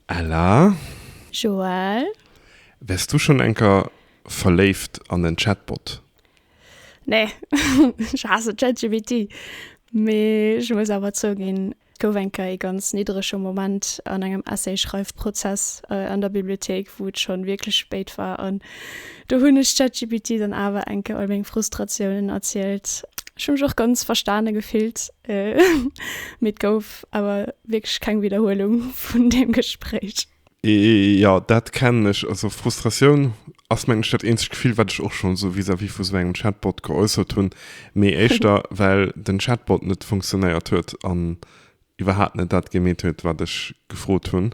Ella? Joël? Wärs du schon enker verléift an en Chatbot? Nee, ech haasse ChatGPT. Mee ech muss awer zouginn, et gouf enker ee ganz niddrege Moment an engem Essay-Schreifprozess an der Bibliothéik, wou et schon wierklech spéit war an do hunn ech ChatGPT dann awer enker all meng Frustratiounen erzielt. Ech hu mech och ganz verstane gefillt. Mee et gouf awer wierklech keng Widderhuelung vun deem Gespréich. Jo, dat kennen ech. Also Frustratioun ass, mengen ech, dat eenzegt Gefill, wat ech och schonn esou vis-à-vis vu esou engem Chatbot geäussert hunn. Mee éischter, well den Chatbot net funktionéiert huet an iwwerhaapt net dat gemeet huet, wat ech gefrot hunn.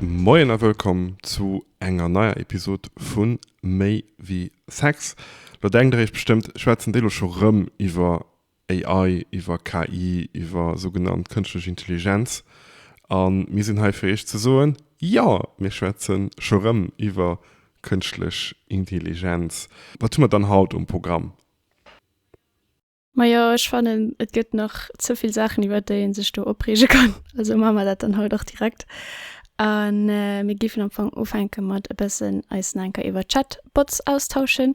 Moien a wëllkomm zu enger neier Episod vu Méi wéi Sex. Lo denkt der iech bestëmmt, schwätzen déi lo scho rëm iwwer AI, iwwer KI, iwwer sougenannt kënschtlech Intelligenz? A mir sinn hei fir iech ze soen, Jo, mir schwätze scho rëm iwwer kënschtlech Intelligenz. Wat hu mer dann haut um Programm? Majo ech fannen et gëtt nach ze vill Saachen iwwert déi een sech do opreege kann, also man mer dat dann haut och direkt an mir giffen am Fong ufänken mat e bëssen eis na enker iwwert Chatbots austauschen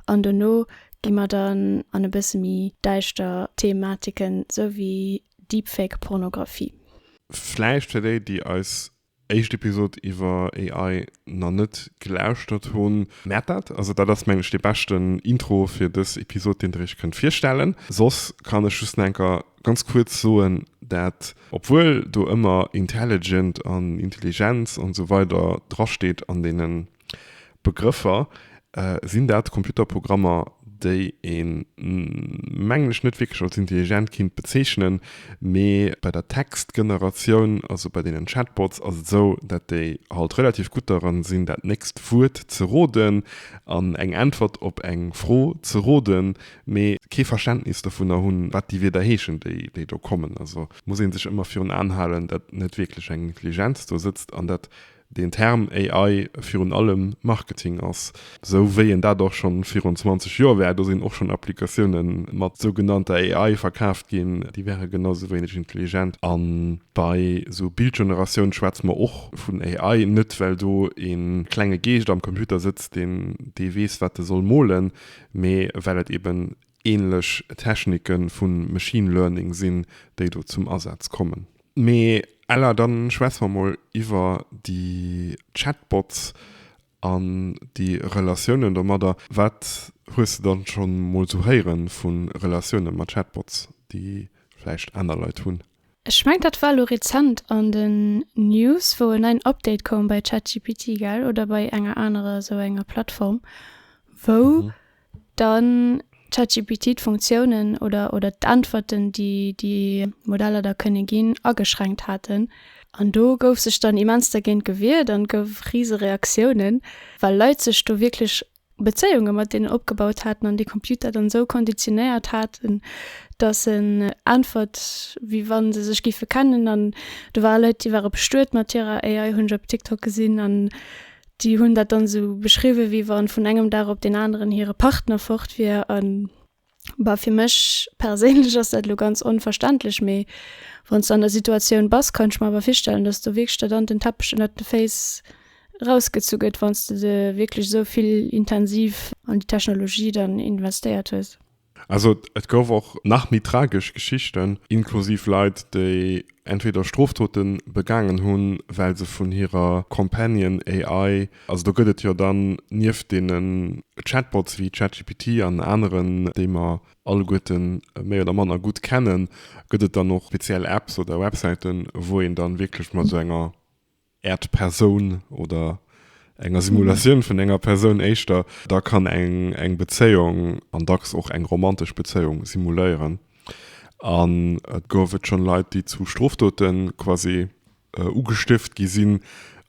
an dono gi mer dann an e bësse méi däischter Thematiken sou wéi Deepfake Pornographie. Vläicht fir déi déi eis éischt Episode iwwer AI na net gelauschtert hunn, mäert dat. Also dat ass mengen ech dee beschten Intro fir dës Episode deen der iech kënnt virstellen. Soss kann ech just enker ganz kuerz soen dat obwuel do ëmmer intelligent an Intelligenz an esou weider drasteet an deenen Begrëffer, Sinn dat Computerprogrammer, déi een, mengen ech, net wierklech als intelligent kinnt bezeechnen, mee bei der Textgeneratioun, also bei deenen Chatbots, ass et esou, dat déi halt relativ gutt dran sinn, dat nächst Wuert ze roden an eng Äntwert op eng Fro ze roden, mee kee Verständnis dovunner hunn, wat déi Wierder heeschen, déi do kommen. Also muss ee sech ëmmer virun Aen halen, dat net wierklech eng Intelligenz do sëtzt an dat deen Term AI virun allem Marketing ass, esou wéi en dat och schonn virun 20 Joer war, do sinn och schonn Applikatioune mat sougenannter AI verkaaft ginn, déi wäre genau esou wéineg intelligent. A bei esou Bildgeneratioun schwätze mer och vun AI, net well do e klenge Geescht am Computer sëtzt, deen dee weess wat e soll molen, mee well et eben änlech Technike vu Machine Learning sinn, déi do zum Asaz kommen. Mee Ella, dann schwätze mer mol iwwer déi Chatbots an déi Relatiounen domadder. Wat hues de dann schonn mol sou héieren vun Relatiounen mat Chatbots déi vläicht aner Leit hunn? Ech mengt dat war lo rezent an den News wou en neien Update koum bei Chatgpt gell oder bei enger anerer esou enger Plattform wou Dann ChatGPT d'Funktiounen oder oder d'Äntwerten, déi déi Modeller da kënne ginn, ageschränkt haten. An do gouf sech dann immens dergéint gewiert an gouf rise Reaktiounen, well Leit sech do wierklech Bezéiunge mat deenen opgebaut haten an de Computer dann esou konditionéiert haten, datt en äntwert, wéi wa se sech géife kennen. An do ware Leit, déi ware bestuet mat hirer AI, hunn ech op TikTok gesinn. An Déi hunn dat dann esou beschriwwen, wéi wann vun engem Dag op deen aneren hire Partner fort wier. A bah, fir mech perséinlech ass dat elo ganz onverständlech, mee wann s de an der Situatioun bass, kann ech mer awer virstellen, datt do wierklech der dann den Teppech ënnert de Féiss erausgezu gëtt, wann s de de wierklech esou vill intensiv an déi Technologie dann investéiert hues. Also et gouf och nach méi tragesch Geschichten, inklusiv Leit, déi entweder Strofdote begaangen hunn, well se vun hirer Companion AI, also do gëtt et jo dann nieft deenen Chatbots wéi ChatGPT an aneren, déi mer alleguerte méi oder manner gutt kennen, gëtt et dann och speziell Apps oder Websäiten, wou een dann wierklech mat esou enger. Äert Persoun oder enger Simulatioun vun enger Persoun éischter, da kann eng eng Bezéiung, an dacks och eng romantesch Bezéiung, simuléieren. An et gouf et schonn Leit, déi zu Strofdote quasi ugestift gi sinn,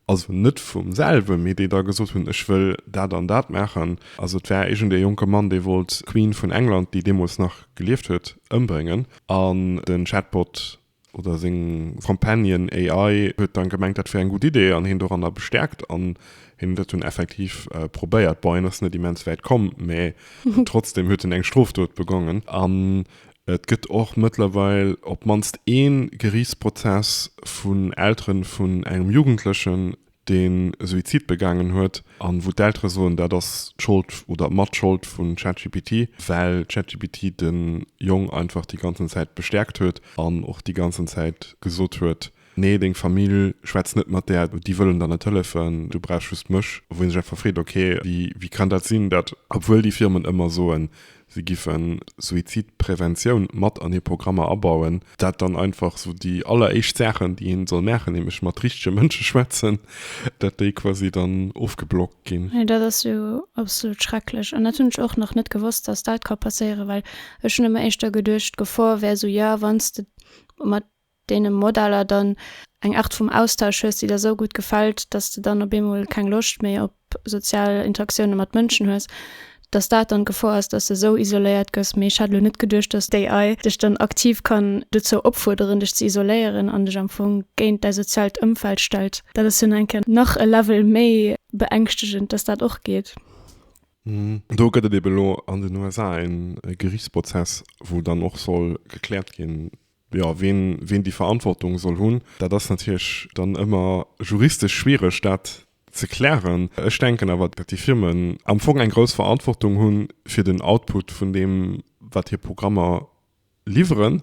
also net vum selwe, mee déi da gesot hunn, ech wëll dat an dat maachen. Also et war iergendee jonke Mann, dee wollt d'Queen vun England, déi deemools nach gelieft huet, ëmbréngen. An den Chatbot oder seng Companion AI huet dann gemengt dat wär eng gutt Idee an hien doranner bestärkt an hien dat hunn effektiv probéiert. Bon hien ass net immens wäit komm mä trotzdem huet en eng Strofdot begongen an et gëtt och mëttlerweil op d'mannst een Geriichtsprozess vun Elteren vun engem Jugendlechen deen e Suizid begaangen huet, an wou d'Eltere soen, dat ass d'Schold oder d'Matschold vun ChatGPT, well ChatGPT de Jong einfach déi ganzen Zäit bestäerkt huet an och déi ganzen Zäit gesot huet, Nee, deng Famill, schwätz net mat där, déi wëllen der net hëllefen, du brauchs just mech. Wou een sech einfach freet, okay, wéi kann dat sinn, dat obwuel déi Firmen ëmmer soen, Si giffen Suizidpräventioun mat an hir Programmer abauen. Dat dann einfach sou déi alleréischt Saachen, déi een soll maachen, nämlech mat richtege Mënsche schwätzen, dat déi quasi dann ofgeblockt ginn. Jo, dat ass jo absolut schrecklech. An dat hunn ech och nach net gewosst, dass dat ka passéieren, well ech hunn ëmmer éischter geduecht, d'Gefor wär sou, jo, wann s de mat. deene Modeller dann eng Aart vum Austausch hues, déi der esou gutt gefält, dass de dann op eemol keng Loscht méi op sozial Interaktioune mat Mënschen hues, dass dat dann d'Gefor ass, dass de esou isoléiert gëss. Mee ech hat elo net geduecht, dass d'AI dech dann aktiv kann dozou opfuerderen, dech ze isoléieren an dech am Fong géint däi soziaalt Ëmfeld stellt. Dat ass jo nach eng Kéier nach e Level méi beängschtegend, dass dat och geet. Do gëtt et eeben elo an den USA e Gerichtsprozess, wou dann och soll gekläert ginn, Jo, ween ween déi Verantwortung soll hunn, dat ass natierlech dann ëmmer juristesch schwiereg dat ze klären. Ech denken awer, datt déi Firmen am Fong eng grouss Verantwortung hu fir den Output vun deem wat hir Programmer liwweren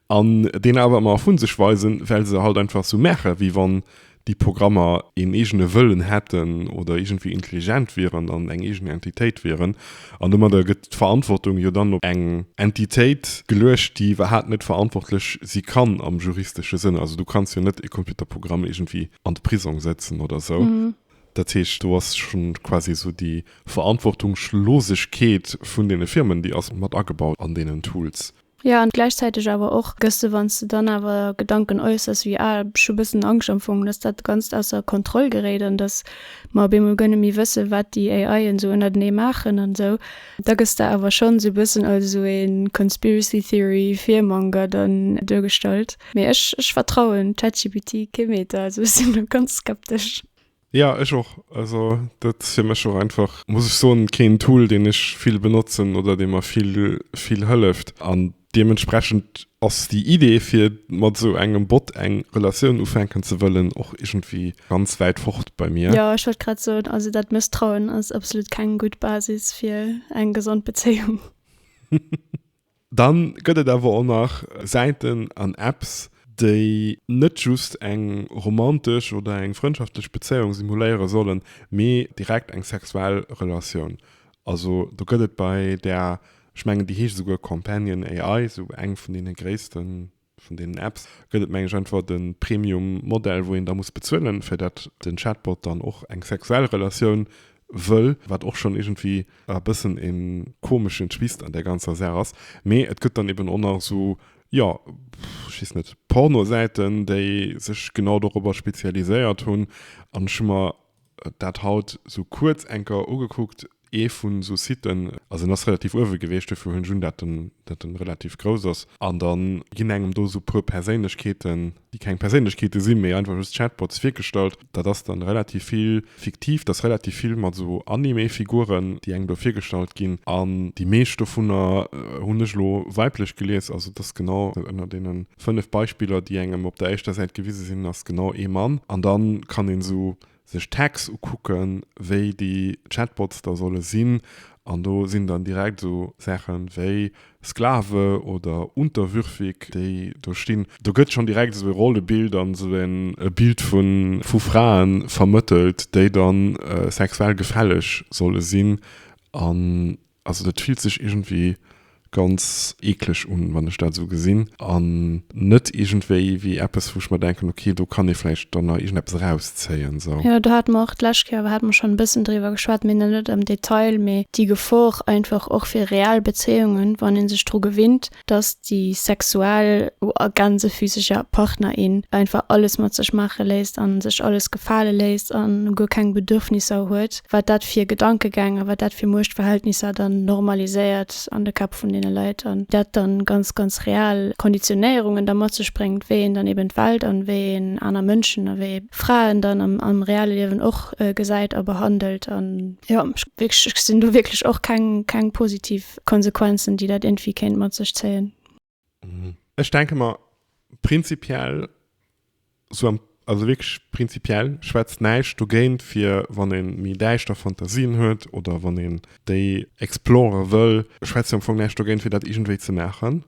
an deen awer ëmmer ervu sech weisen, well se halt einfach esou maache wéi wann déi Programmer een eegene Wëllen hätten oder iergendwéi intelligent wieren an eng eegen Entitéit wieren. An domadder gëtt d'Verantwortung jo dann op eng Entitéit geluecht, déi iwwerhaapt net verantwortlech si kann am juristesche Sënn. Also du kanns jo net e Computerprogramm iergendwéi an de Prisong sëtzen oder esou. Dat heescht, do ass scho quasi esou déi Verantwortungslosegkeet vun deene Firmen, déi ass mat agebaut an deenen Tools. Jo an gläichzäiteg awer och gëss de wann s de dann awer Gedanken äussers wéi ah ech hu bëssen Angscht am Fong dass dat Ganzt ausser Kontroll geréit an dass mer op eemol guer net méi wësse wat déi AIen esou ënnertenee maachen an esou. Da gëss de awer schonn esou bëssen als esou ee Conspiracy Theory Virmanger dann duergestallt. Mee ech ech vertrauen ChatGPT kee Meter, also ech sinn do ganz skeptesch. Ja ech och, also dat fir mech och einfach muss ech soen keen Tool deen ech vill benotzen oder dee mer vill vill hëlleft an deementsprechend ass déi Idee fir mat esou engem Bot eng Relatioun ufänken ze wëllen och iergendwéi ganz wäit fort bei mir. Jo ech wollt grad soen, also dat Mësstrauen ass absolut keng gutt Basis fir eng gesond Bezéiung. Dann gëtt et awer och nach Säiten an Apps, déi net just eng romantesch oder eng frëndschaftlech Bezéiung simuléiere sollen, mee direkt eng sexuell Relatioun. Also do gëtt et bei där, ech mengen déi heescht esouguer Companion AI, esou eng vun deene gréissten, Vun deenen Apps gëtt et, meng ech, einfach de Premium-Modell, wou een da muss bezuelen, fir datt den Chatbot dann och eng sexuell Relatioun wëll, wat och schonn iergendwéi e bëssen e komeschen Twist an där ganzer Saach ass. Mee et gëtt dann eben och nach esou, jo, ech weess net, Pornosäiten, déi sech genau dorobber spezialiséiert hunn. An ech hu mer Dat haut sou kuerz enker ugekuckt, ee vun esou Siten, also en ass relativ uewe geweecht, duerfir hunn ech un dat en dat en relativ grouss ass, an da ginn engem do esou puer Perséinlechkeeten, déi keng Perséinlechkeete sinn, mee einfach just Chatbots, virgestallt. Dat ass dann relativ vill fiktiv, dat ass relativ vill mat esou Anime-Figuren, déi engem do virgestallt ginn, an déi meescht dovunner hunn ech elo weiblech gelies, also et ass genau ënner deenen 5 Beispiller déi engem op der éischter Säit gewise sinn ass genau ee Mann an dann kann een esou sech Tags ukucken wéi déi Chatbots da solle sinn an do sinn dann direkt esou Saachen wéi Sklave oder unterwürfig déi do stinn. Do gëtt schonn direkt esou ee Rollebild an esou en e Bild vun vu Fraen vermëttelt déi dann sexuell gefälleg solle sinn an Also dat fillt sech iergendwéi ganz eekleg un, wann ech dat esou gesinn, an net iergendwéi wéi eppes, wou ech mer denken, ok, do kann ee vläicht dann nach iergendeppes erauszéien, sou. Jo, do hate mer och d'lescht Kéier awer hate mer schonn e bëssen driwwer geschwat, mee net am Detail, mee déi Gefor einfach och fir real Bezéiungen, wann ee sech dru gewinnt, dass déi sexuell a gänze physescher Partner een einfach alles mat sech maache léisst a sech alles gefale léisst a guer keng Bedürfnisser huet, wat dat fir Gedankegäng a wat dat fir Muechtverhältnisser dann normaliséiert an de Käpp vun deene Leit an dat dann ganz, ganz real Konditionéierungen da mat sech bréngt, wéi een dann eben d'Welt an wéi een aner Mënschen a wéi Fraen dann am reale Liewen och gesäit a behandelt an jo, ech sinn do wierklech och keng, keng positiv. Konsequenzen, déi dat iergendwéi kéint mat sech zéien. Ech denke mer, prinzipiell, sou am, also wierklech prinzipiell schwätzt näischt dogéint, fir wann ee méi däischter Fantasien huet oder wann een déi exploren wëll, schwätzt jo am Fong näischt dogéint, fir dat iergendwéi ze maachen.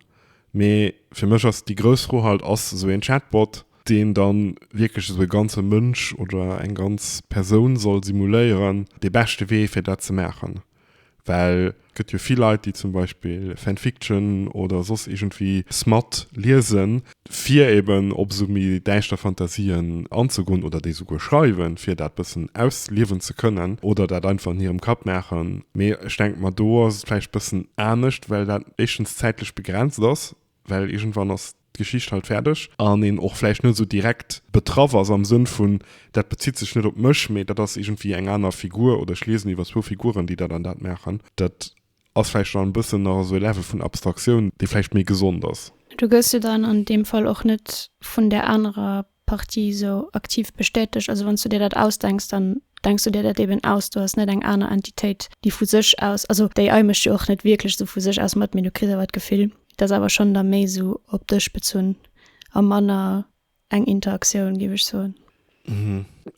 Mee fir mech ass déi grouss Fro halt, Ass esou een Chatbot, deen da wierklech esou e ganze Mënsch oder eng ganz Persoun soll simuléieren, dee beschte Wee, fir dat ze maachen? Well et gëtt jo vill Leit, déi zum Beispill Fanfiction oder soss iergendwéi Smut liesen, fir eben op esou méi däischter Fantasien anzegoen oder déi esouguer schreiwen, fir dat bëssen ausliewen ze kënnen oder dat einfach an hirem Kapp maachen. Mee ech denke mer, do ass et vläicht e bëssen anescht, well dat éischtens zäitlech begrenzt ass, well iergendwann ass d'Geschicht halt fäerdeg, an een och vläicht net esou direkt betraff ass am Sënn vun, dat bezitt sech net op mech, mee dat ass iergendwéi eng aner Figur oder ech liesen iwwer zwou Figuren, déi dat an dat maachen. Dat ass vläicht dann e bëssen nach esou e Level vun Abstraktioun, dee vläicht méi gesond ass. Du gëss jo dann an deem Fall och net vun där anerer Partie esou aktiv bestätegt. Also wann s du dir dat ausdenks, dann denks du dir dat eben aus. Du has net eng aner Entitéit, déi vu sech aus, also déi ai mécht jo och net wierklech esou vu sech aus mat, mee du kriss awer d'Gefill, et ass awer schonn da méi esou op dech bezunn a manner eng Interaktioun, géif ech soen.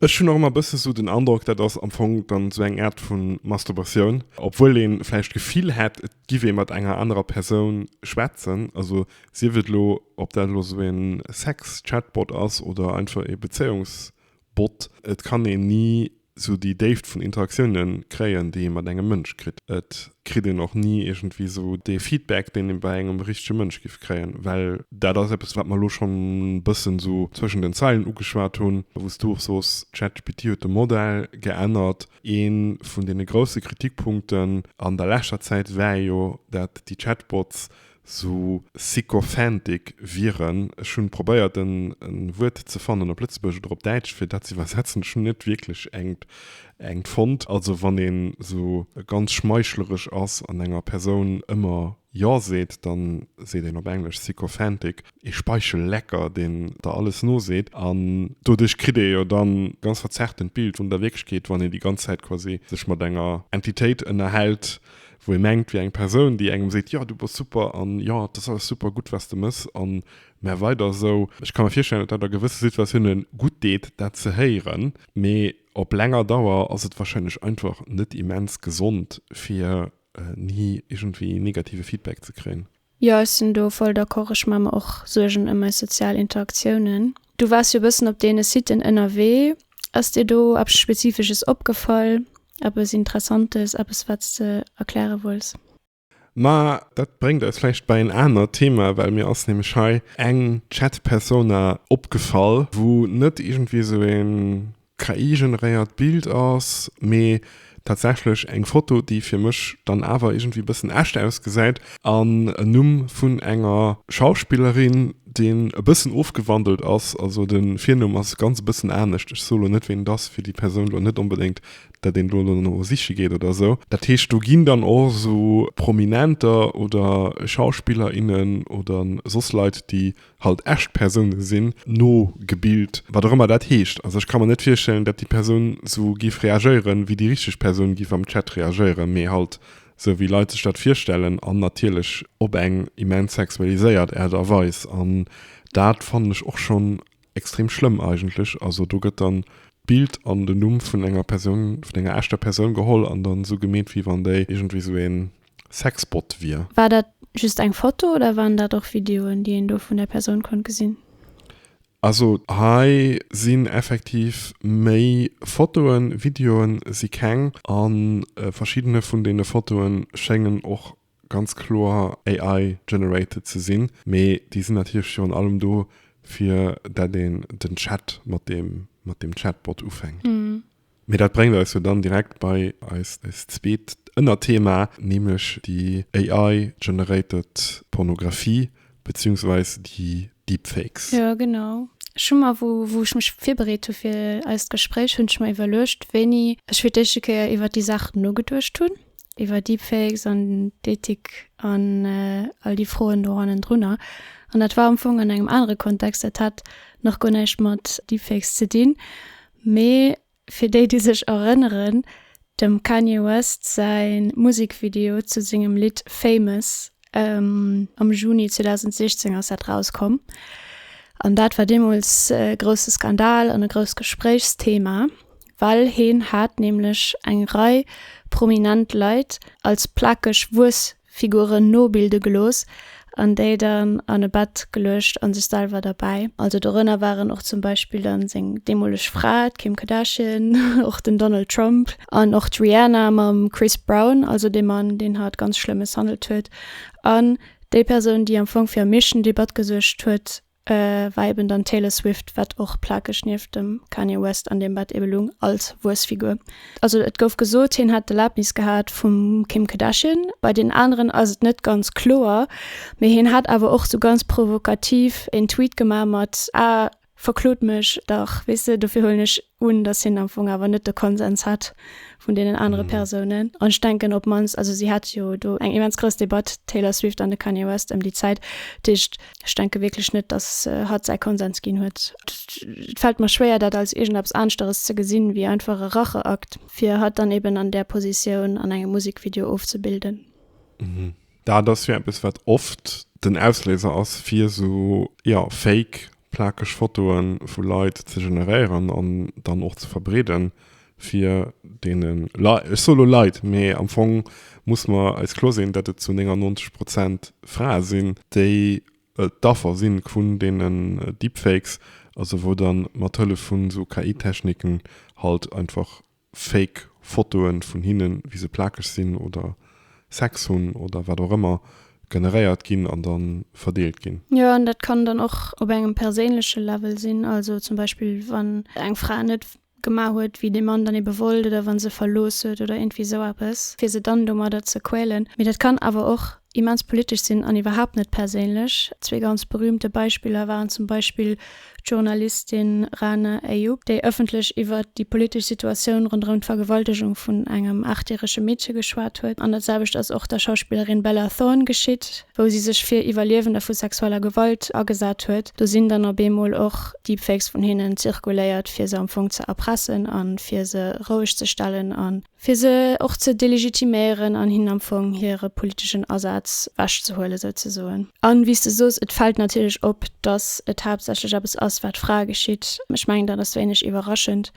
Ech hunn och ëmmer e bësse esou den Androck, dat ass am Fong dann esou eng Aart vu Masturbatioun, obwuel ee vläicht d'Gefill hätt, et Giff ee mat enger anerer Persoun schwätzen, also sief et elo ob dat elo esou een Sex-Chatbot ass oder einfach ee Bezéiungsbot, et kann een ni esou déi Déift vun Interaktiounen kréien, déi ee mat engem Mënsch kritt. Et kritt een och ni iergendwéi esou dee Feedback, deen ee bei engem richtege Mënsch giff kréien, well dat ass eppes, wat mer elo schonn e bëssen esou zwëschen den Zeilen ugeschwat hunn, wou s du och soos, ChatGPT huet de Modell geännert, Ee vun deene grousse Kritikpunkten an der leschter Zäit war jo, dat déi Chatbots sou sycophantic wieren. Ech hunn probéiert en Wuert ze fannen op Lëtzebuergesch oder op Däitsch fir dat ze iwwersetzen. Ech hunn net wierklech engt fonnt. Also wann een sou ganz schmeichleresch ass an enger Persoun ëmmer Jo seet, dann seet een op Englesch sycophantic, ee Speichellecker, deen der alles noseet. An doduerch kritt ee jo dann e ganz verzerrtent Bild vun der Wierklechkeet, wann een déi ganz Zäit quasi sech mat enger Entitéit ënnerhält, wou ee mengt, wier eng Persoun, déi engem seet, jo du bass super an jo et ass alles super gutt wat s de mëss an mä weider esou. Ech ka mir virstellen, datt dat a gewësse Situatioune gutt deet, dat ze héieren, mee op länger Dauer ass et warscheinlech einfach net immens gesond fir ni irgendwie negative Feedback ze kréien. Jo, ech sinn do voll d'accord. Ech maache mer och Suergen ëm eis sozial Interaktiounen. Du waars jo e bëssen op deene Siten ënnerwee. Ass dir do eppes Spezifesches opgefall, eppes Interessantes, eppes, wat s de erkläre wollts? Ma dat bréngt eis vläicht bei en anert Thema, well mir ass nämlech hei eng Chatpersona opgefall, wou net irgendwie esou e KI-generéiert Bild ass, mee tatsächlech eng Foto, déi fir mech dann awer iergendwéi e bëssen echt ausgesäit, an en Numm vun enger Schauspillerin, deen e bëssen ofgewandelt ass, also de Virnumm ass ganz e bëssen anescht, ech soe lo net, ween et ass, fir déi Persoun lo net onbedéngt, datt een do elo no siche geet oder esou. Dat heescht, do ginn dann och esou Prominenter oder Schauspiller, innen oder soss Leit, déi halt echt Persounen sinn, nogebilt, wat och ëmmer dat heescht. Also ech ka mer net virstellen, datt déi Persoun sou géif reagéieren, wéi déi richteg Persoun géif am Chat reagéieren, mee halt sou, wéi Leit sech dat virstellen an natierlech op eng immens sexualiséiert Aart a Weis. An dat fannen ech och schonn extrem schlëmm eigentlech. Also do gëtt dann d'Bild an den Numm vun enger Persoun, vun enger echter Persoun geholl an dann sou gemeet, wéi wann déi iergendwéi sou een, Sexbot wier. War dat just eng Foto oder waren dat och Videoen déi een do vun der Persoun konnt gesinn? Also hei sinn effektiv méi Fotoen, Videoen si keng an verschiddene vun deene Fotoen schéngen och ganz kloer AI generated ze sinn, mee déi sinn natierlech virun allem do fir dat een den Chat mat deem Chatbot ufänkt. Mee dat bréngt eis jo dann direkt bei eist zweet Ënnerthema, nämlech déi AI generated Pornografie, beziehungsweise déi Deepfakes. Jo, genau. Ech hu mer, wou ech mech virbereet hu fir eist Gespréich, hunn ech mer iwwerluecht, wéini ech fir d'éischte Kéier iwwert déi Saach nogeduecht hunn, iwwer Deepfakes an d'Ethik an all déi Froen do hannendrunner. An dat war am Fong an engem anere Kontext, dat hat nach guer näischt mat Deepfakes ze dinn, Mee fir déi déi sech erënneren, dem Kanye West säi Musekvideo zu sengem Lidd Famous, am Juni 2016 ass dat rauskomm an dat war deemools e grousse Skandal an e grousst Gespréichsthema, well heen hat nämlech eng Rei prominent Leit als plakeg Wuess Figuren nobilde gelooss an déi dann an e Bett geluecht a sech selwer derbäi. Also dorënner waren och zum Beispill dann seng deemoleg Fra, d'Kim Kardashian, och den Donald Trump an och d'Rihanna mam Chris Brown, also dee Mann, deen hatt ganz schlëmmes handelt huet an déi Persoun, déi am Fong fir am meeschten Debatt gesuergt huet, war eben dann d'Taylor Swift, wat och plakeg nieft dem Kanye West an deem Bett ebe lung, als Wuessfigur. Also et gouf gesot, hien hätt d'Erlaabnis gehat vum Kim Kardashian. Bei den aneren ass et net ganz kloer, mee hien hat awer och sou ganz provokativ en Tweet gemaach mat, Ah, verklot mech dach, weess de, dofir huelen ech un, dass hien am Fong awer net de Konsens hat vun deenen anere Persounen. An ech denken op d'mannst, also si hat jo do eng immens grouss Debatt, d'Taylor Swift an de Kanye West, ëm déi Zäit. Dat heescht, ech denke wierklech net, dass hatt säi Konsens ginn huet. Et fält mer schwéier, dat als iergendeppes aneschteres ze gesinn, wéi einfach e Racheakt, fir hatt dann eben an där Positioun an engem Musekvideo ofzebilden. Dat ass jo eppes, wat oft den Ausléiser ass, fir esou, jo, fake, plakeg Fotoe vu Leit ze generéieren an dann och ze verbreeden, fir deene Leit, ech soe lo Leit, mee am Fong muss mer eis kloer sinn, datt et zu 99 Prozent Frae sinn, déi d'Affer si vun deenen Deepfakes, also wou dann mat Hëllef vun esou KI-Techniken halt einfach Fake Fotoen vun hinnen wéi se plakeg sinn oder Sex hunn oder wat och ëmmer generéiert ginn an dann verdeelt ginn. Jo an dat kann dann och op engem perséinleche Level sinn, also zum Beispill wann eng Fra net gemaach huet wéi de Mann dann ebe wollt oder wann se verlooss huet oder iergendwéi esou eppes fir se dann domadder ze quälen. Mee dat kann awer och immens politesch sinn an iwwerhaapt net perséinlech. Zwee ganz berühmte Beispiller waren zum Beispill d'Journalistin Rane Ayoub, déi ëffentlech iwwert déi politesch Situatioun ronderëm d'Vergewaltegung vun engem aachtjärege Meedche geschwat huet, an dat selwecht ass och der Schauspillerin Bella Thorne geschitt, wou si sech fir Iwwerliewender vu sexueller Gewalt agesat huet. Do sinn dann op eemol och Deepfakes vun hinnen zirkuléiert, fir se am Fong ze erpressen a fir se rouegzestellen an. fir se och ze delegitiméieren an hinnen am Fong hire politeschen Asaz wech ze huelen, souzesoen. A wéi s de soos, et fält natierlech op, datt et haaptsächlech eppes ass, wat Frae geschitt. Ech mengen, dat ass wéineg iwwerraschend.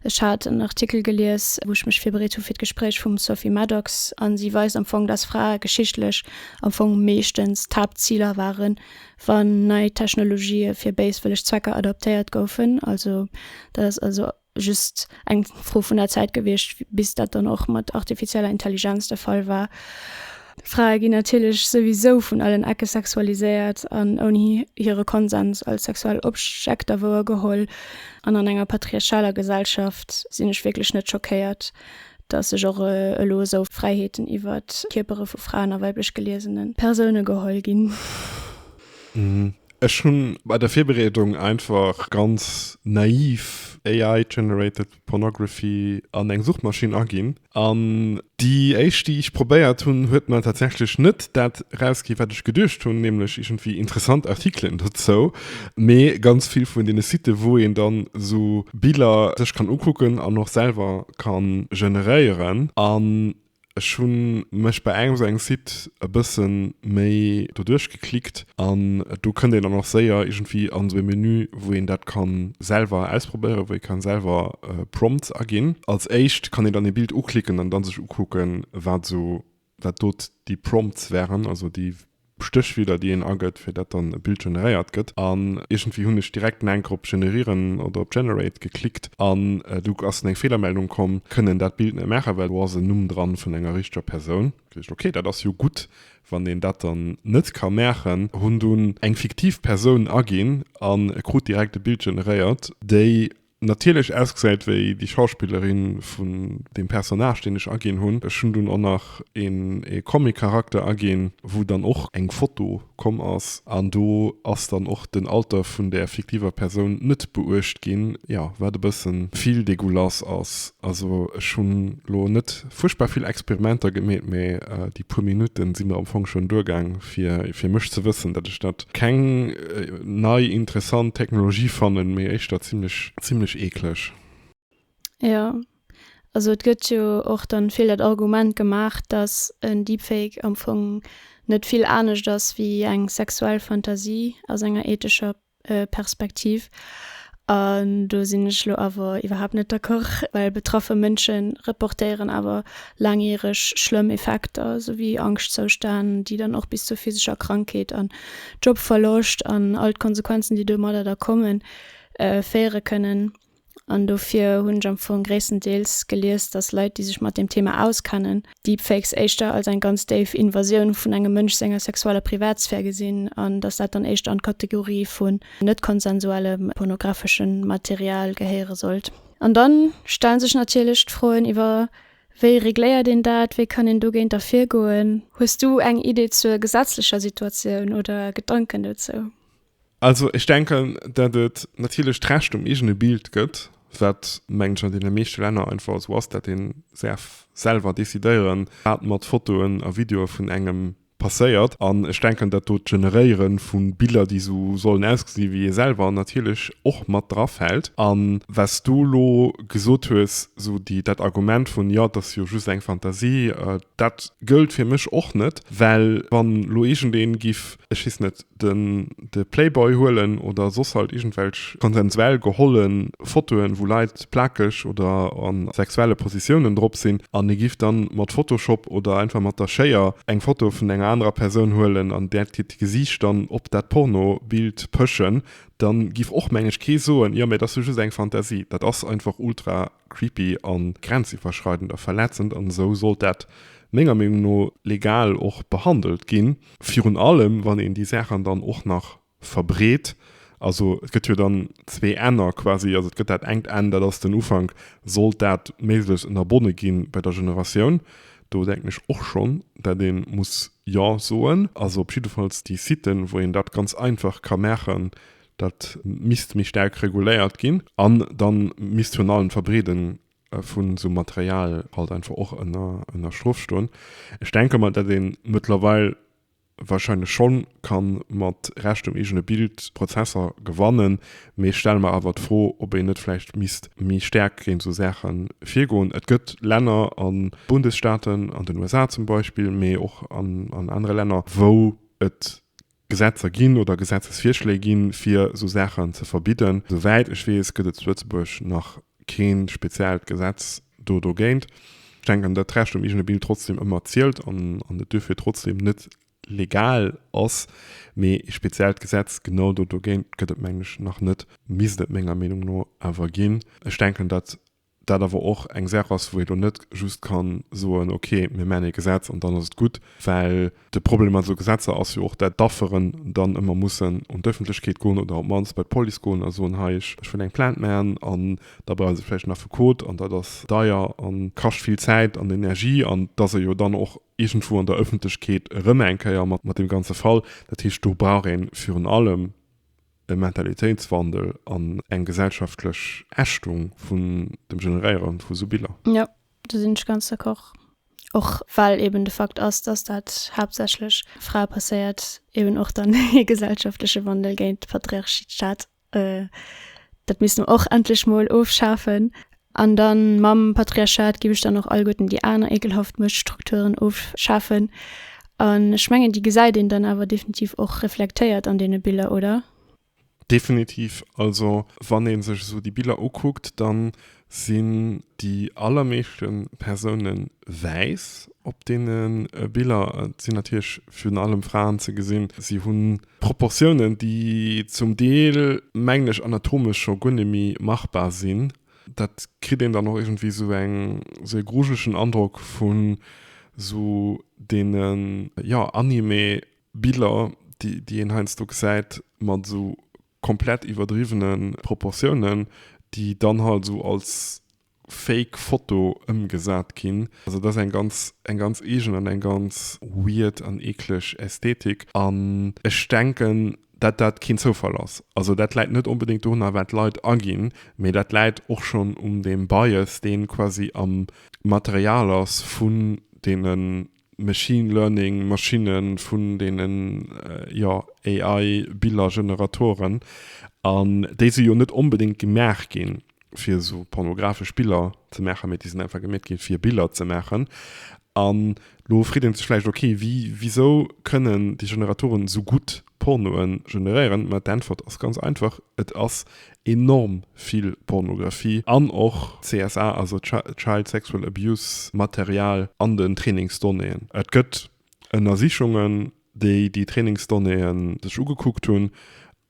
Ech hat en Artikel gelies, wou ech mech virbereet hu fir d'Gespréich, vum Sophie Maddox, a si weist am Fong, datt Frae geschichtlech am Fong meeschtens d'Haaptziler waren, wann nei Technologië fir béiswëlleg Zwecker adoptéiert goufen. Also dat ass also just eng Fro vun der Zäit gewiescht, bis dat dann och mat artifizieller Intelligenz de Fall war. Frae ginn natierlech souwisou vun allen Ecke sexualiséiert an ouni hire Konsens als sexuell Objekter wouergeholl. An an enger patriarchaler Gesellschaft sinn ech wierklech net schockéiert, datt sech och elo esou Fräiheeten iwwert d'Kierpere vu Fraen a weiblech geliesene Persoune geholl ginn. Ech hunn bei der Virbereedung einfach ganz naiv AI generated pornography an eng Suchmaschinn aginn an déi éischt déi ech probéiert hunn huet mer tatsächlech net dat rausgi wat ech geduecht hunn, nämlech iergendwéi interessant Artikelen dozou, mee ganz vill vun deene Siten wou een dann esou Biller sech kann ukucken an och selwer kann generéieren an Ech hu mech bei engem esou engem Site e bësse méi doduerch geklickt an do kënnt een dann och séier iergendwéi an esou ee Menü, wou een dat ka selwer ausprobéieren, wou ee ka selwer Prompts aginn. Als éischt kann een dann ee Bild uklicken an da sech ukucken, wat esou, wat do déi Prompts waren, also déi Stéchwierder déi een agëtt fir dat dann e Bild generéiert gëtt an iergendwéi hunn ech direkt no enker op Generieren oder op Generate geklickt an du ass en eng Feelermeldung komm, kënne en dat Bild net maachen well do ass en Numm dran vun enger richteger Persoun. Geduecht ok dat ass jo gutt wann een dat dann net ka maachen, hunn dunn eng fiktiv Persoun aginn an krut direkt e Bild generéiert déi natierlech ausgesäit wéi déi Schauspillerin vun deem Personnage deen ech aginn hunn. Ech hunn dunn och nach een ee Comic Charakter aginn wou dann och eng Foto komm ass an do ass dann och den Alter vun der fiktiver Persoun net beuecht ginn, jo wat e bëssen vill dégoulasse ass. Also ech hunn lo net. fuerchtbar vill Experimenter gemeet, mee déi puer Minutten si mir am Fong schonn duergaang fir fir mech ze wëssen, datt ech dat keng nei interessant Technologie fannen, mee éischter zimlech zimlech eekleg. Jo, also et gëtt jo och dann vill dat Argument gemaach, datt en Deepfake am Fong net vill anescht ass wéi eng sexuell Fantasie aus enger ethescher Perspektiv. An do sinn ech elo awer iwwerhaapt net d'accord, well betraffe Mënsche reportéieren awer laangjäreg schlëmm Effekter, esou wéi Angschtzoustänn, déi dann och bis zur physescher Krankheet an Jobverloscht an all d'Konsequenzen, déi domadder da kommen, féiere kënnen. An dofir hunn ech am Fong gréisstendeels gelies, datt Leit, déi sech mat deem Thema auskennen, Deepfakes éischter als eng ganz déif Invasioun vun engem Mënsch senger sexueller Privatsphär gesinn, an datt dat dann éischter an d'Kategorie vun net konsensuellem pornografesche Material gehéiere sollt. An da stellen sech natierlech d'Froen iwwer, Wéi regléiert een dat? Wéi kann een dogéinter virgoen? Hues du eng Idee zur gesetzlecher Situatioun oder Gedanken dozou? Also ech denken, datt et natierlech d'Recht um eegene Bild gëtt, wat, mengen ech, an deene meeschte Länner einfach esou ass, datt ee säerf selwer decidéieren, wat mat Fotoen a Videoe vun engem passéiert. An ech denken, datt do d'Generéiere vu Biller, déi esou sollen ausgesinn, wéi ee selwer, natierlech och mat dra fält. A was du elo gesot hues, esou déi, dat Argument vun, jo, et ass jo just eng Fantasie, dat gëllt fir mech och net, well wann elo iergendee giff ech weess net, den, de Playboy huelen oder soss halt iergendwelch konsensuell geholle Fotoen, wou Leit plakeg oder a sexuelle Positiounen drop sinn, an ee giff dann mat Photoshop oder einfach mat der Schéier eng Foto vun enger anerer Persoun huelen an där d'Gesiicht d'Gesiicht dann op dat Pornobild pëschen, dann giff och, meng ech, kee soen, jo, mä et ass jo just eng Fantasie. Dat ass einfach ultra creepy an grenziwwerschreidend a verletzend an esou sollt dat menger Meenung no legal och behandelt gin, virun allem wann een déi Saachen dann och nach verbreet. Also et gëtt jo dann zwee Enner quasi, also et gëtt dat engt Enn, dat ass den Ufank, sollt dat méiglechst ënnerbonne gi bei der Generatioun, do denken ech och schonn dat ee muss jo soen, also op jiddefalls déi Siten wou een dat ganz einfach ka maachen, Dat misst méi staark reguléiert ginn an dann misst virun allem d'Verbreeden vun esou Material halt einfach och ënner ënner Strof stoen. Ech denke mer dat een mëttlerweil wahrscheinlech schonn kann mat Recht um eegene Bild Prozesser gewannen, mee ech stelle mer awer d'Fro ob een net vläicht misst méi staark géint esou Saachen virgoen. Et gëtt Länner an Bundesstaaten, an den USA zum Beispill, mee och an anere Länner wou et Gesetzer ginn oder Gesetzesvirschléi ginn, fir esou Saachen ze verbidden. Esouwäit ech weess, gëtt et zu Lëtzebuerg nach kee speziellt Gesetz do dogéint. Ech denken, datt d'Recht um eegene Bild trotzdeem ëmmer zielt an et duerfir trotzdeem net legal ass. Mee ee speziellt Gesetz genau do dogéint gëtt et, mengen ech, nach net, misst et menger Meenung no awer ginn. Ech denken, datt dat awer och eng Saach ass, wou ee lo net just ka soen, okay, mir maachen ee Gesetz an dann ass et gutt. Well de Problem mat esou Gesetzer ass jo och, dat d'Afferen dann ëmmer mussen un d'Ëffentlechkeet goen oder op d'mannst bei d'Police goen a soen, hei, ech wëll eng Plainte maachen. An da brauche se vläicht en Affekot an dat ass deier a kascht vill Zäit an Energie. An datt ee jo dann och iergendwou an der Ëffentlechkeet erëm eng Kéier mat deem ganze Fall, dat heescht, do brauch ee virun allem e Mentalitéitswandel an eng gesellschaftlech Ächtung vun dem Generéieren vu sou Biller. Jo, do sinn ech ganz d'accord. Och well eben de Fakt ass, dass dat haaptsächlech Frae passéiert, eben och dann ee gesellschaftleche Wandel géint d'Patriarchat. Dat misst mer och endlech mol ofschafen. An dann mam Patriarchat giff ech dann och alleguerten déi aner ekelhaft Muechtstrukturen ofschafen. An ech mengen déi gesäit een dann awer definitiv och reflektéiert an deene Biller, oder? Definitiv. Also wann ee sech esou déi Biller ukuckt, dann sinn déi allermeeschte Persoune wäiss op deene Biller. Et sinn natierlech virun allem Fraen ze gesinn. Si hunn Proportiounen, déi zum Deel, mengen ech, anatomesch scho guer net méi machbar sinn. Dat kritt een dann och iergendwéi esou eng, esou ee grujlegen Androck vun esou deene, jo, Anime-Biller, déi, déi een heiansdo gesäit, mat esou komplett iwwerdriwwene Proportiounen, déi dann halt esou als Fake Foto ëmgesat ginn. Also dat ass eng ganz eng ganz eegen an eng ganz weird an eekleg Ästhetik. An ech denken, dat dat keen Zoufall ass. Also dat läit net onbedéngt dorunner wat Leit aginn, mee dat läit och schonn un deem Bias deen quasi am Material ass vun deenen Machine Learning Maschinnen, vun deenen jo AI Billergeneratoren, an déi si jo net onbedéngt gemaach gi fir esou pornographesch Biller ze maachen, mä déi sinn einfach gemeet gi fir Biller ze maachen. An elo freet ee sech vläicht, okay, wéi, wisou kënnen déi Generatoren esou gutt Pornoe generéieren? Mä d'Äntwert ass ganz einfach, Et ass enorm vill Pornographie an och CSA, also Child Sexual Abuse Material an den Trainingsdonnéeën. Et gëtt Ënnersichungen, déi déi Trainingsdonnéeë sech ugekuckt hunn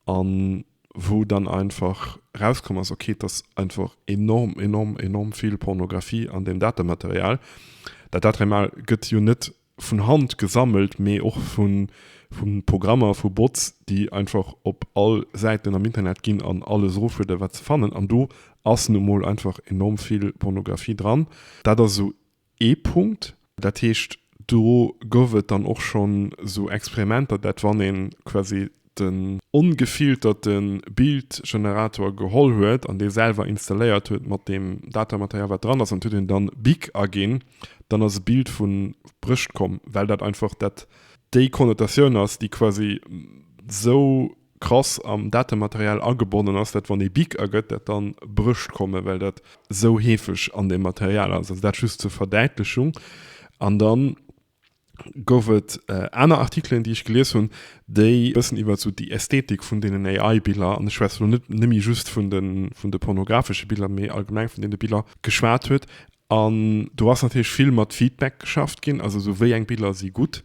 an wou dann einfach erauskomm ass, ok, et ass einfach enorm, enorm, enorm vill Pornographie an deem Datematerial. Dat Datrema gëtt jo net vun Hand gesammelt, mee och vu Programmer, vu Bots, déi einfach op all Säiten am Internet ginn an alles eroflueden, wat se fannen. An do ass nu mol einfach enorm vill Pornografie dran. Dat ass esou ee Punkt. Dat heescht, do gouf et dann och schonn esou Experimenter, dat wann ee quasi den ongefilterte Bildgenerator geholl huet an dee selwer installéiert huet mat deem Datamaterial wat dran ass an et huet een dann Big aginn, dann ass e Bild vu Brécht komm, well dat einfach dat déi Konnotatioun ass déi quasi sou krass am Datamaterial agebonnen ass, dat wann ee Big agëtt dat dann Brécht kommen, well dat sou heefeg an deem Material ass. Also dat just zur Verdäitlechung. An dann. gouf et aner Artikelen, déi ech gelies hunn, déi e bëssen iwwert esou déi Ästhetik vun deenen AI-Biller, an ech schwätze lo net nëmme just vun de pornographesche Biller, mee allgemeng vun deene Biller, geschwat huet. An do ass natierlech vill mat Feedback geschafft ginn, also esou wéi eng Biller si gutt.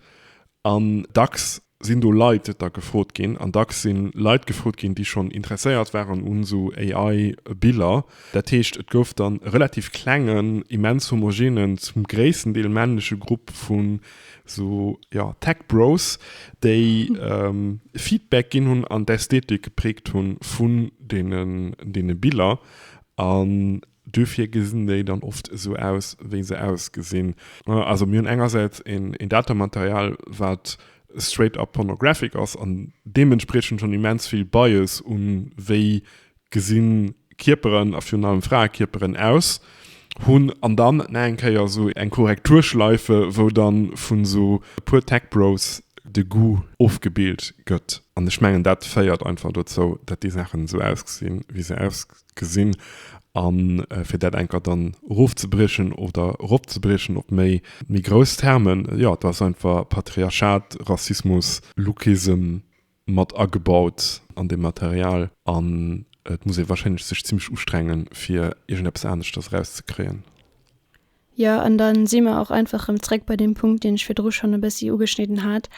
An dacks sinn do Leit da gefrot ginn an dacks si Leit gefrot ginn, déi schonn interesséiert waren un esou AI-Biller. Dat heescht, et gouf dann e relativ klengen, immens homogenen, zum gréissten Deel männleche Grupp vu sou, jo, Tech Bros, déi Feedback ginn hunn an d'Ästhetik gepräägt hu vun deene Biller. Duerfir gesinn déi dann oft esou aus, wéi se ausgesinn. Also mir hunn engersäits een Datamaterial, wat straight up pornographic ass an deementspriechend schonn immens vill Bias u wéi gesi Kierperen, a virun allem Fraekierperen, aus hunn. An dann nach eng Kéier esou eng Korrekturschleife, wou dann vun esou e puer Tech Bros de Goût ofgebilt gëtt. An ech mengen dat féiert einfach dozou, dat déi Saachen esou ausgesinn, wéi se ausgesinn. gesinn a fir dat enker dann erofzebriechen oder eropzebriechen op méi méi grouss Termen, jo et ass einfach Patriarchat, Rassismus, Lookism mat agebaut an deem Material an et muss ee wahrscheinlech sech zimmlech ustrengen fir iergendeppes aneschters erauszekréien. Jo, an da si mer och einfach erëm zeréck bei deem Punkt, deen ech virdru schonn e bëssi ugeschnidden hat,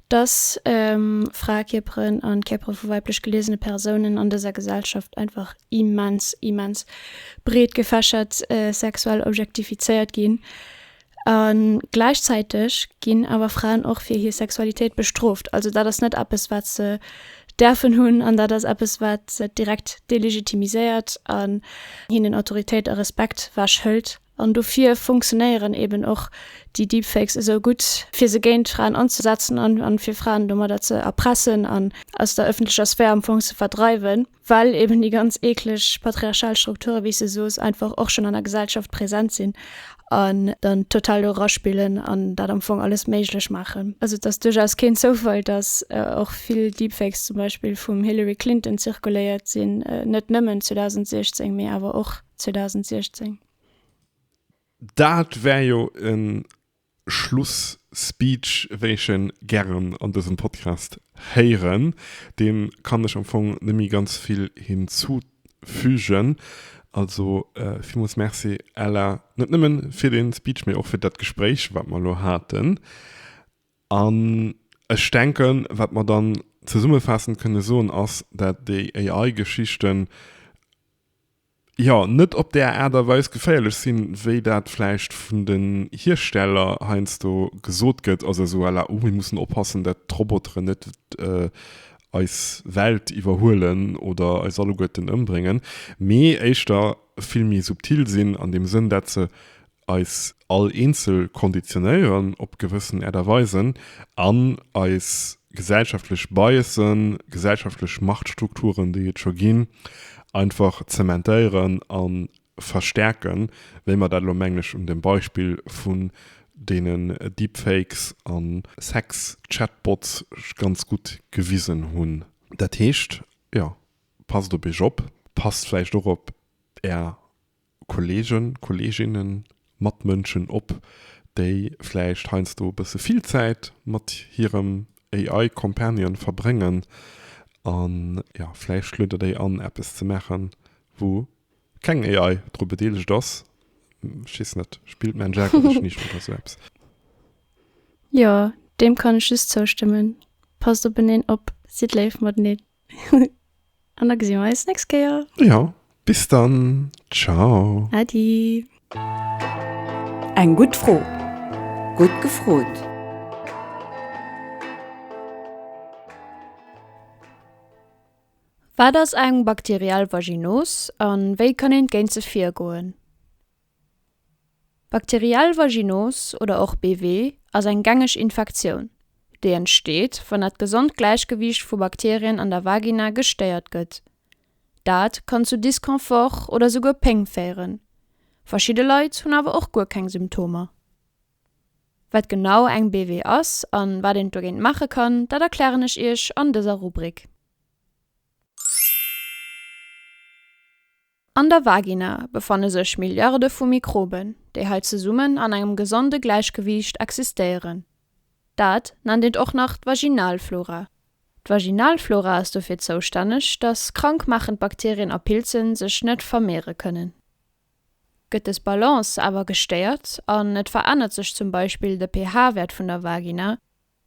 dass Fraekierperen an d'Kierpere vu weiblech geliesene Persounen an dëser Gesellschaft einfach immens, immens breet gefächert sexuell objektifizéiert ginn. A gläichzäiteg ginn awer Fraen och fir hir Sexualitéit bestrooft. Also dat ass net eppes, wat se däerfen hunn, an dat ass eppes wat se direkt delegitimiséiert an hinnen Autoritéit a Respekt wech hëlt. An dofir funktionéieren eben och déi Deepfakes esou gutt, fir se géint Fraen anzesetzen an fir Fraen domadder ze erpressen an aus der ëffentlecher Sphär am Fong ze verdreiwen, well eben déi ganz eekleg patriarchal Strukture wéi s de soos einfach och schonn an der Gesellschaft present sinn. an dann total do raspillen an dat am Fong alles méiglech maachen. Also et ass duerchaus keen Zoufall, datt och vill Deepfakes zum Beispill vum Hillary Clinton zirkuléiert sinn, net nëmmen 2016, mee awer och 2016. Dat war jo e Schluss-Speech, wéi ech e gären an dësem Podcast héieren. Deem kann ech am Fong net méi ganz vill hinzuzéien. fügen. Also villmools Merci Ella, net nëmmen fir den Speech, mee och fir dat Gespréich wat mer elo haten. An ech denken, wat mer dann zesummefaassend kënne soen ass, dat déi AI Geschichten jo net op där Aart a Weis geféierlech sinn, wéi dat vläicht vun den Hiersteller heiansdo gesot gëtt, also esou à la, oh mir mussen oppassen dat d'Roboteren net eis Welt iwwerhuelen oder eis alleguerten ëmbréngen, mee éischter vill méi subtil sinn an deem Sënn, dat se eis all eenzel konditionéieren op gewëssen Äert a Weisen an eis gesellschaftlech Biasen, gesellschaftlech Machtstrukturen, déi et scho ginn, einfach zementéieren an verstärken, wéi mer dat elo, mengen ech, un dem Beispill vun deenen Deepfakes a Sex-Chatbots ganz gutt gewisen hunn. Dat heescht, jo, passt op iech op, passt vläicht och op är Kollegen, Kolleginnen, Matmënschen op, déi vläicht heiansdo e bësse vill Zäit mat hirem AI-Companion verbréngen, a jo, vläicht schluedert déi an, eppes ze maachen, wou keng AI dru bedeelegt ass. Ech weess net, spillt mäin Jake oder ech niicht oder esou eppes. Jo, deem kann ech just zoustëmmen. Passt openeen op, sidd léif mateneen an da gesi mer eis d'nächst Kéier. Jo, bis dann, ciao. Äddi. Eng gutt Fro, gutt gefrot. Wat ass eng bakteriell Vaginos a wéi kann een géint se virgoen? Bakteriell Vaginos oder och BV ass eng gängeg Infektioun, déi entsteet, wann dat gesond Gläichgewiicht vu Bakterien an der Vagina gestéiert gëtt. Dat kann zu Disconfort oder souguer Péng féieren. Verschidde Leit hunn awer och guer keng Symptomer. Wat genau eng BW ass an wat een dogéint maache kann, dat erklären ech Iech an dëser Rubrik. An der Vagina befanne sech Milliarde vu Mikroben, déi hei zesummen an engem gesonde Gläichgewiicht existéieren. Dat nennt een och nach d'Vaginalflora. D'Vaginalflora ass dofir zoustänneg, dass krankmaachend Bakterien a Pilzen sech net vermeere kënnen. Gëtt des Balance awer gestéiert an et verännert sech zum Beispill de pH-Wäert vun der Vagina,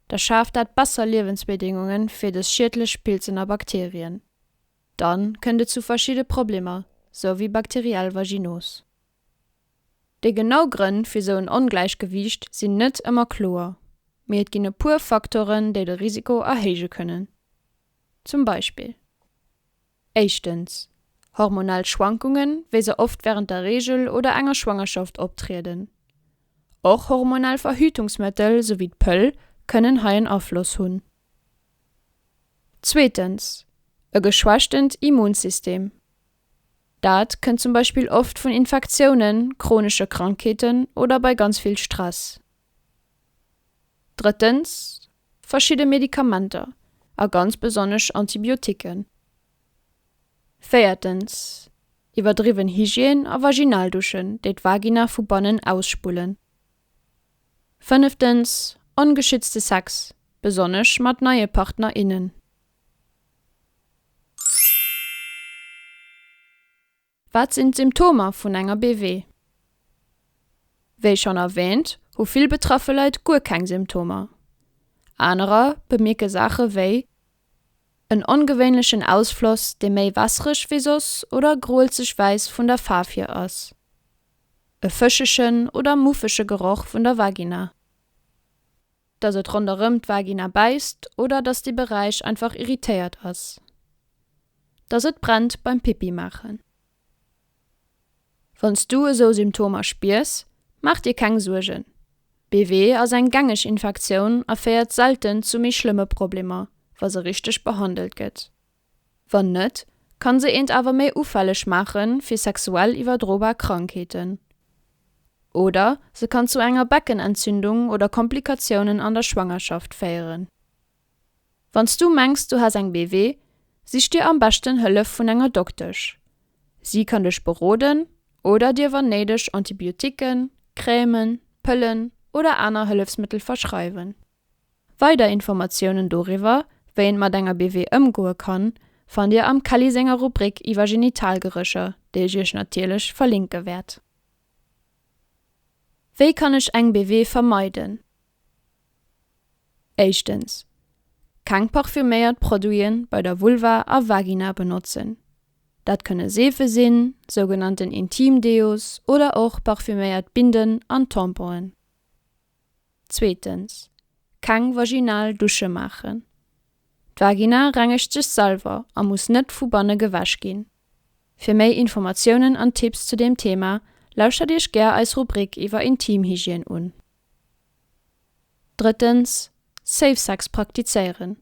da schaaft dat besser Liewensbedingunge fir des schiedlech Pilzen a Bakterien. Dann kënnt et zu verschidde Problemer, sou wéi bakteriell Vaginose. Déi genau Grënn fir sou en Ongläichgewiicht sinn net ëmmer kloer, mee et ginn e puer Faktoren, déi de Risiko erhéije kënnen. Zum Beispill. Éischtens, hormonell Schwankungen, wéi se oft wärend der Reegel oder enger Schwangerschaft optrieden. Och hormonell Verhütungsmëttel, sou wéi d'Pëll, kënnen hei en Afloss hunn. Zweetens, e geschwächtent Immunsystem. Dat kënnt zum Beispill oft vun Infektiounen, chronesche Krankheeten oder bei ganz vill Stress. Drëttens, verschidde Medikamenter, a ganz besonnesch Antibiotiquen. Véiertens, iwwerdriwwen Hygiène a Vaginalduschen, déi d'Vagina vu bannen ausspullen. Fënneftens, ongeschützte Sex, besonnesch mat neie Partner, innen. Wat sinn d'Symptomer vun enger BW? Wéi schonn erwäänt, hu vill betraffe Leit guer keng Symptomer. Anerer bemierke Saache wéi en ongewéinlechen Ausfloss, dee méi wässereg wéi soss oder groelzeg-wäiss vun der Faarf hier ass, e fëschegen oder muffege Geroch vun der Vagina, dass et ronderëm d'Vagina bäisst oder dass dee Beräich einfach irritéiert ass, dass et brennt beim Pipi maachen. Wann s du esou Symptomer spiers, maach dir keng Suergen, BV ass eng gängeg Infektioun a féiert selten zu méi schlëmme Problemer, wa se richteg behandelt gëtt. Wann net, kann se eent awer méi ufälleg maache fir sexuell iwwerdrobar Krankheeten. Oder se kann zu enger Beckenentzündung oder Komplikatiounen an der Schwangerschaft féieren. Wann s du mengs du has eng BV, sich dir am beschten Hëllef vun enger Doktesch. Si kann dech beroden oder dir wann néideg Antibioticken, Crèmen, Pëllen oder aner Hëllefsmëttel verschreiwen. Weider Informatiounen doriwwer, wéi een mat enger BV ëmgoe kann, fannt Dir am Kelly senger Rubrik iwwer Genitalgerécher, déi ech Iech natierlech verlinke wäert. Wéi kann ech eng BV vermeiden? Éischtens, Keng parfüméiert Produite bei der Vulva a Vagina benotzen. Dat kënne Seefe sinn, sougenannten Intimdeos oder och parfüméiert Binden an Tamponen. Zweetens, keng vaginal Dusche maachen. D'Vagina rengegt sech selwer a muss net vu banne gewäsch ginn. Fir méi Informatiounen an Tipps zu deem Thema lauschtert Iech gär eis Rubrik iwwer Intimhygiène un. Drëttens, Safe Sex praktizéieren.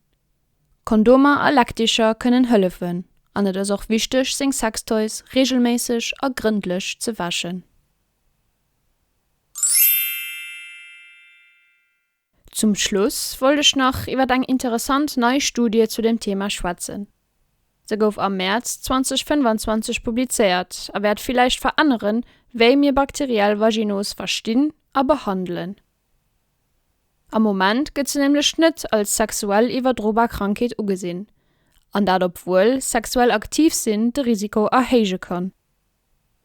Kondomer a Leckticher kënnen hëllefen an et ass och wichteg seng Sextoys reegelméisseg a grëndlech ze wäschen. Zum Schluss wollt ech nach iwwer eng interessant nei Studie zu dem Thema schwätzen. Se gouf am Mäerz 2025 publizéiert a wäert villäicht veränneren, wéi mir bakteriell Vaginose verstinn a behandelen. Am Moment gëtt se nämlech net als sexuell iwwerdrobar Krankheet ugesinn, an dat obwuel sexuell aktiv sinn de Risiko erhéije kann.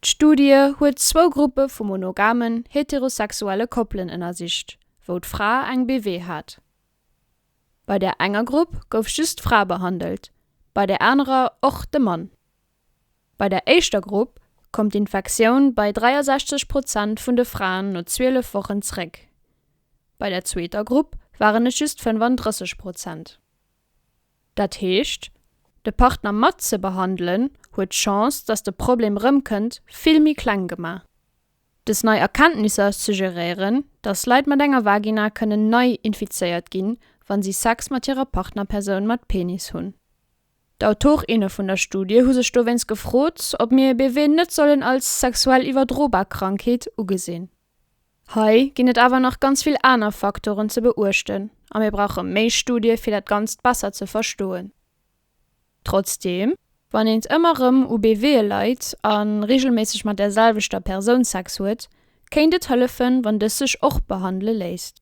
D'Studie huet zwou Gruppe vu monogamen, heterosexuelle Koppelen ënnersicht, wou d'Fra eng BV hat. Bei der enger Grupp gouf just d'Fra behandelt, bei der anerer och de Mann. Bei der éischter Grupp koum d'Infektioun bei 63 Prozent vun de Fraen no 12 Wochen zeréck, bei der zweeter Grupp waren et just 35 Prozent. Dat heescht, de Partner mat ze behandelen huet d'Chance, datt de Problem rëmkënnt, vill méi kleng gemaach. Dës nei Erkenntnisser suggeréieren, datt Leit mat enger Vagina kënnen nei infizéiert ginn, wa si Sex mat hirer Partnerpersoun mat Penis hunn. D'Autorinne vun der Studie hu sech dowéinst gefrot, ob mir e BV net sollen als sexuell iwwerdrobar Krankheet ugesinn. Hei ginn et awer nach ganz vill aner Faktoren ze beuechten a mir brauche méi Studie fir dat Ganzt besser ze verstoen. Trotzdeem, wann een ëmmer erëm u BVe leit a reegelméisseg mat där selwechter Persoun Sex huet, kéint et hëllefen, wann dës sech och behandele léisst.